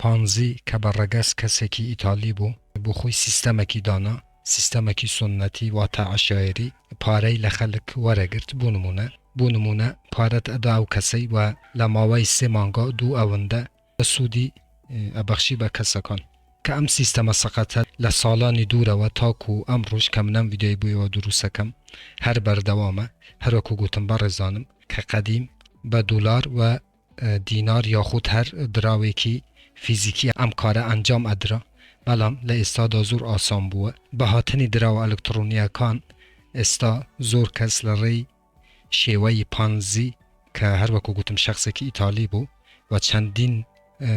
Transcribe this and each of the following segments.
پانزی کە بە ڕەگەز کەسێکی ئیتالی بوو، بۆ خۆی سیستەمەکی دانا، سیستەمەکی سوننەتی واتە عەشایەری، پارەی لە خەلک وەرەگرت بو نمونە، بو نمونە پارەت ئەدا ئەو کەسەی و لە ماوەی سێ مانگا دوو ئەوندە سودی ئەبەخشی بە کەسەکان. کە ئەم سیستەمە سەقەتە لە سالانی دورەوە تاکو ئەمڕوش کە من ئەم ڤیدیۆی بو ئێوە دروستەکەم هەر بەردەوامە، هەروەکو گوتم بەڕێزانم کە قەدیم بە دولار و دینار یاخود هەر دراوێکی فیزیکی ئەم کارە ئەنجام ئەدرا، بەڵام لە ئێستادا زۆر ئاسان بووە. بە هاتنی دراوە ئەلکتڕۆنییەکان ئێستا زۆر کەس لە ڕێی شێوەی پانزی کە هەر وەکو گوتم شەخسێکی ئیتالی بوو و چەندین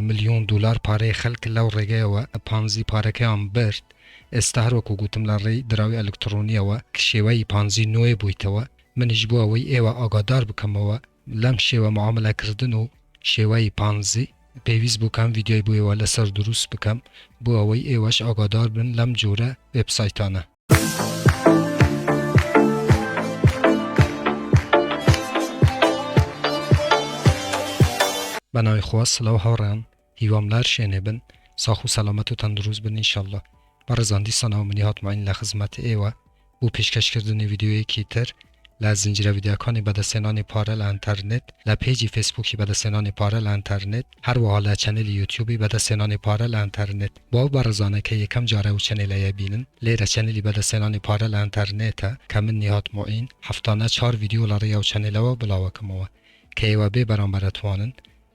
ملیۆن دۆلار پارەی خەلک لەو ڕێگەیەوە پانزی پارەکەیان برد، ئێستا هەر وەکو گوتم لە ڕێی دراوی ئەلکتڕۆنییەوە شێوەی پانزی نوێ بوویتەوە. منیش بۆ ئەوەی ئێوە ئاگادار بکەمەوە، لەم شێوە معاملە کردن و شێوەی پانزی پێویست بوو کەم ڤیدیۆی بۆ ئێوە لەسەر دروست بکەم بۆ ئەوەی ئێوەش ئاگادار بن لەم جۆرە وێبسایتانە. بەناوی خوا سڵاو هاوڕێیان هیوام لار شێنێ بن ساخ و سەلامەت و تەندروست بن ان شاءاللە بەڕێزان دیسانەوە منی هاتماین لە خزمەت ئێوە بو پێشکەش کردنی ڤیدیۆیەکی تر لە زنجیرە ڤیدیۆکانی بەدەستهێنانی پارە لە ئەنتەرنێت لە پێجی فێسبوکی بەدەستهێنانی پارە لە ئەنتەرنێت هەروەها لە چەنێلی یوتیوبی بەدەستهێنانی پارە لە ئەنتەرنێت بۆ ئەو بەڕێزانەی کە یەکەم جارە ئەو چەنێلەیە بینن لێرە چەنێلی بەدەستهێنانی پارە لە ئەنتەرنێتە کە من نیهاد موعین هەفتانە چوار ڤیدیۆ لە ڕێی ئەو چەنێلەوە بڵاوەکەمەوە کە ئێوە بێ بەرامبەر ئەتوانن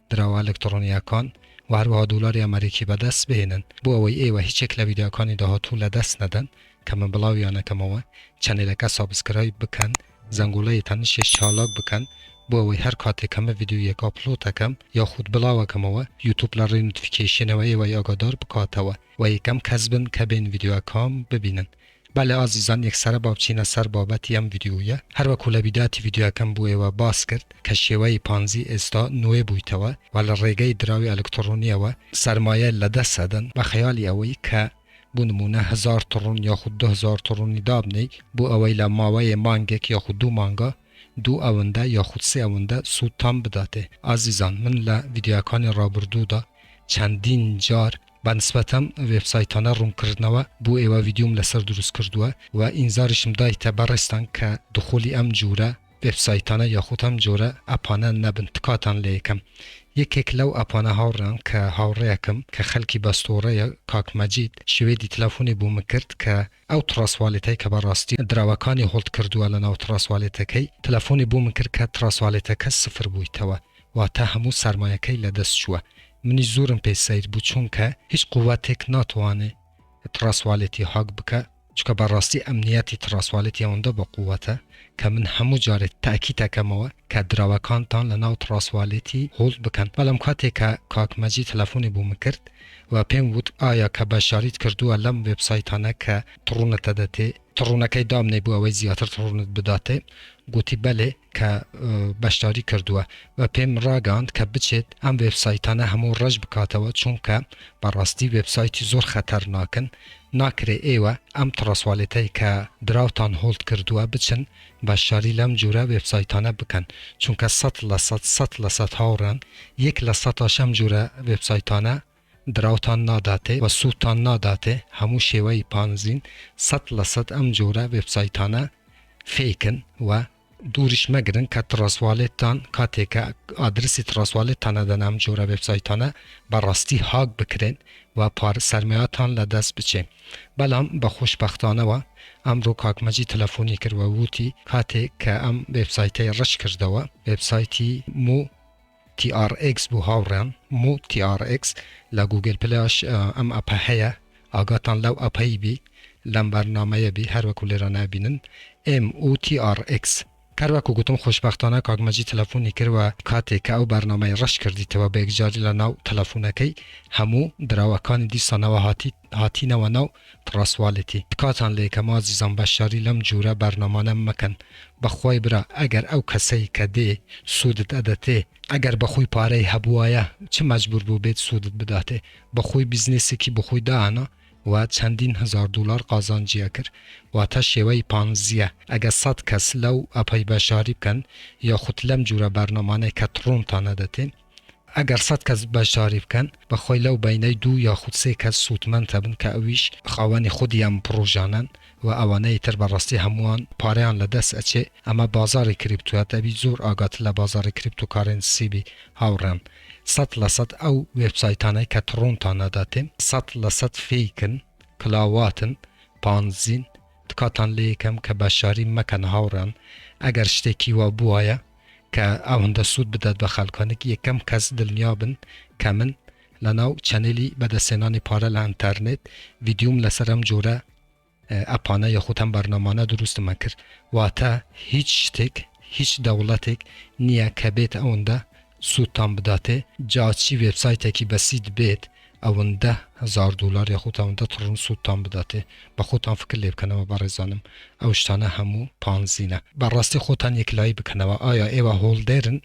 دراوە ئەلکتڕۆنییەکان و هەروەها دۆلاری ئەمەریکی بەدەست بهێنن، بۆ ئەوەی ئێوە هیچ یەک لە ڤیدیۆکانی داهاتوو لەدەست نەدەن کە من بڵاویانەکەمەوە، چەنێلەکە سابسکرایب بکەن، زەنگۆڵەی تەنیشتیش چالاک بکەن بۆ ئەوەی هەر کاتێک کە من ڤیدیۆیەک ئاپلۆتەکەم یاخود بڵاوەکەمەوە یوتوب لە ڕێی نۆتفیکەیشنەوە ئێوەی ئاگادار بکاتەوە و یەکەم کەس بن کە بێن ڤیدیۆکەم ببینن. بەلێ ئازیزان یەکسەرە با بچینە سەر بابەتی ئەم ڤیدیۆیە هەر وەکو لە بیداتی ڤیدیۆکەم بۆ ئێوە باس کرد کە شێوەی پانزی ئێستا نوێ بویتەوە و لە ڕێگەی دراوی ئەلکتڕۆنیەوە سەرمایە لە دەست ئەدەن بە خەیالی ئەوەی کە بۆ نموونە هەزار تڕون یاخود دو هەزار تڕونی دابنێی بۆ ئەوەی لە ماوەێ مانگێک یاخود دوو مانگا دوو ئەوندە یاخود سێ ئەوندە سوودتان بداتێ ئازیزان من لە ڤیدیۆکانی ڕابردوودا چەندین جار بە نسبەت ئەم وێب سایتانە ڕوونکردنەوە بۆ ئێوە ڤیدیۆم لەسەر دروست کردووە و ئینزاریشم دایتە بەڕێزتان کە دخولی ئەم جورە وێب سایتانە یاخود ئەم جۆرە ئەپانە نەبن تکاتان لێیەکەم یەکێک لەو ئەپانە هاوڕێیان کە هاوڕێیەکم کە خەلکی بەستۆڕەیە کاک مەجید شوێدی تلەفۆنی بۆمن کرد کە ئەو تڕاسوالێتەی کە بەڕاستی دراوەکانی هۆڵد کردووە لەناو تڕاسوالێتەکەی تلەفۆنی بۆمن کرد کە تڕاسوالێتەکە سفر بویتەوە واتا هەموو سەرمایەکەی لەدەست چووە منیش زورم پێ سەیر بوو چونکە هیچ قوەتێک ناتوانێ تڕاسوالێتی هاک بکا چونکە بەڕاستی ئەمنیەتی تڕاسوالێتی ئەوەندە بەقوەتە کە من هەموو جارێ تاکید ئەکەمەوە کە دراوەکانتان لەناو تڕاسوالێتی هۆڵد بکەن بەڵام کاتێ کە کاک مەجید تەلەفۆنی بۆ من کرد و پێم ووت ئایا کە بەشداریت کردووە لەم وێبسایتانە کە تڕونت ئەدەتێ تڕونەکەی دابنێ بۆ ئەوەی زیاتر تڕونت بداتێ گۆتی بەلێ کە بەشداری کردووە و پێم ڕاگەاند کە بچێت ئەم وێبسایتانە هەموو ڕەش بکاتەوە چونکە بەڕاستی وێبسایتی زۆر خەتەرناکن ناکرێ ئێوە ئەم تڕەسوالێتەی کە دراوتان هۆڵد کردووە بچن بەشداری لەم جورە وێبسایتانە بکەن چونکە سەت لە سەت سەت لە سەت هاوڕام یەک لە سەتاش ئەم جورە وێبسایتانە دراوتان ناداتێ و سوودتان ناداتێ هەموو شێوەی پانزین سەد لە سەد ئەم جۆرە وێبسایتانە فێکن و دووریش مەگرن کە تڕەسوالێتتان کاتێ کە ئادرسی تڕەسوالێتتان ئەدەنە ئەم جۆرە وێبسایتانە بە ڕاستی هاک بکرێن و پارە سەرمایەتان لە دەست بچێ بەلام بە خۆشبەختانەوە ئەمڕۆ کاک مەجید تەلەفۆنی کرد و ووتی کاتێ کە ئەم وێبسایتەی ڕەش کردەوە وێبسایتی مو TRX بۆ هاوڕێیان مو TRX لە گوگل پلەش ئەم ئەپە هەیە ئاگاتان لەو ئەپەی بی لەم بەرنامەیە بی هەر وەکو لێرە نابینن MUTRX. هەر وەکو گوتم خۆشبەختانە کاک مەجید تەلەفۆنی کرد وە کاتێ کە ئەو بەرنامەی ڕەش کردیتەوە بە یەکجاری لە ناو تەلەفۆنەکەی هەموو دراوەکانی دیسانەوە هاتی هاتینەوە ناو تڕاسوالیتی. تکاتان لێکەم ئازیزان بەشداری لەم جورە بەرنامانە مەکەن بەخوای برا ئەگەر ئەو کەسەی کە دێ سودت ئەدەتێ ئەگەر بەخۆی پارەی هەبوایە چ مەجبور بوبێت سودت بداتێ بەخۆی بیزنێسێکی بەخۆی دائەنا و چەندین هەزار دولار قازانجی ئەکرد واتە شێوەی پانزیە ئەگەر سەد کەس لەو ئەپەی بەشداری بکەن یاخود لەم جورە بەرنامانەی کە تڕۆنتان ئەدەتێ ئەگەر سەد کەس بەشداری بکەن، بەخۆی لەو بەینەی دوو یاخود سێ کەس سوودمەند ئەبن کە ئەویش خاوەنی خودی ئەم پڕۆژانەن و ئەوانەی تر بەڕاستی هەمووان پارەیان لەدەست ئەچێ، ئەمە بازاڕی کریپتوە دەبی زۆر ئاگات لە بازاڕی کریپتۆ کارێنسی بی هاوڕێیان، سەد لە سەد ئەو وێبسایتانەی کە تڕۆنتان ئەداتێ سەد لە سەد فیکن، کلاواتن، پانزین، تکاتان لێ ئەکەم کە بەشداری مەکەن هاوڕێیان، ئەگەر شتێکی وا بوایە. کە ئەوەندە سوود بدات بە خەلکانێک یەکەم کەس دلنیابن کە من لەناو چەنێلی بەدەستهێنانی پارە لە ئەنتەرنێت ڤیدیۆم لەسەر ئەم جۆرە ئەپانە یاخود ئەم بەرنامانە دروستمە کرد واتە هیچ شتێک هیچ دەوڵەتێک نییە کە بێت ئەوەندە سوودتان بداتێ جا چی وێبسایتێکی بەسیت بێت ئەوەندە هەزار دۆلار یاخود ئەوەندە تڕن سودتان بداتێ بە خۆتان فکر لێ بکەنەوە بەڕێزانم ئەو شتانە هەموو پانزینە بەڕاستی خۆتان یەکلایی بکەنەوە ئایا ئێوە هۆڵدێرن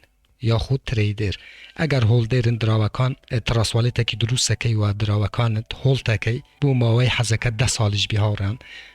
یاخود ترەیدێر ئەگەر هۆڵدێرن دراوەکان تڕەست واڵێتەکی دروست ئەکەی و دراوەکانت هۆڵتەکەی بۆ ماوەی حەزەکەت دە ساڵیش بی هاوڕێیان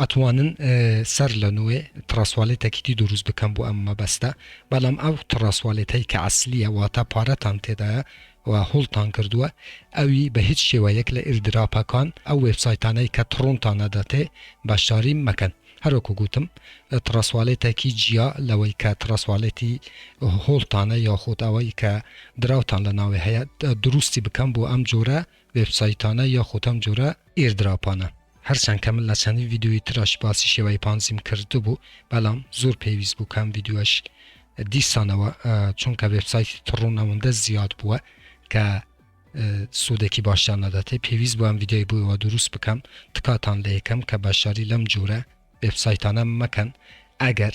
ئەتوانن سەر لە نوێ تڕاسوالێتەکیتی دروست بکەن بۆ ئەم مەبەستە بەلام ئەو تڕاسوالێتەی کە عەسلیە واتە پارەتان تێدایە و هۆڵدتان کردوە ئەوی بە هیچ شێوەیەک لە ئیردراپەکان ئەو وێبسایتانەی کە تڕۆنتان ئەداتێ بەشداری مەکەن هەر وەکو گوتم تڕاسوالێتەکی جیا لەوەی کە تڕاسوالێتی هۆڵدتانە یاخود ئەوەی کە دراوتان لە ناوێ هەیە دروستی بکەن بۆ ئەم جۆرە وێبسایتانە یاخود ئەم جۆرە ئیردراپانە. هەرچەن کە من لە چەندین ڤیدیۆی ترش باسی شێوای پانزیم کردبوو بەلام زور پێویست بوو کەم ڤیدیۆش دیسانەوە چونکە وێبسایتی تڕون ئەوەندە زیاد بووە کە سوودێکی باشیان نەدەتێ پێویست بۆم ویددیوی بووەوە دروست بکەم تکاتان لە یەکەم کە بەشاری لەم جورە وبسایتانە مەکەن ئەگەر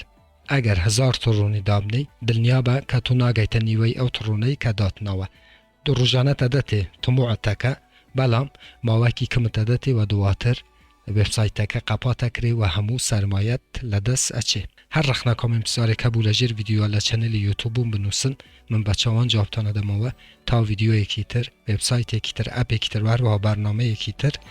ئەگەر هزار تڕونی دابنی دڵنیا بە کە تو ناگەیتە نیوەی ئەو تڕونەی کە داتنەوە دو روژانە تەدەتێ تموعت تەکە بەلام ماوەکی کمت تەدەتێ وە دواتر وێبسایتەکە قەپات ئەکرێ وە هەموو سەرمایەت لەدەس ئەچێ هەر رەخنە کۆمێمتسارێک هەبوو لە ژێر ڤیدیۆ لە چەنێلی یوتوبوم بنوسن من بە چاوان جوابتان ئەدەمەوە تا ڤیدیۆیەکی تر وێبسایتێکی تر ئەپێکی تر وە هەروەها بەرنامەیەکی تر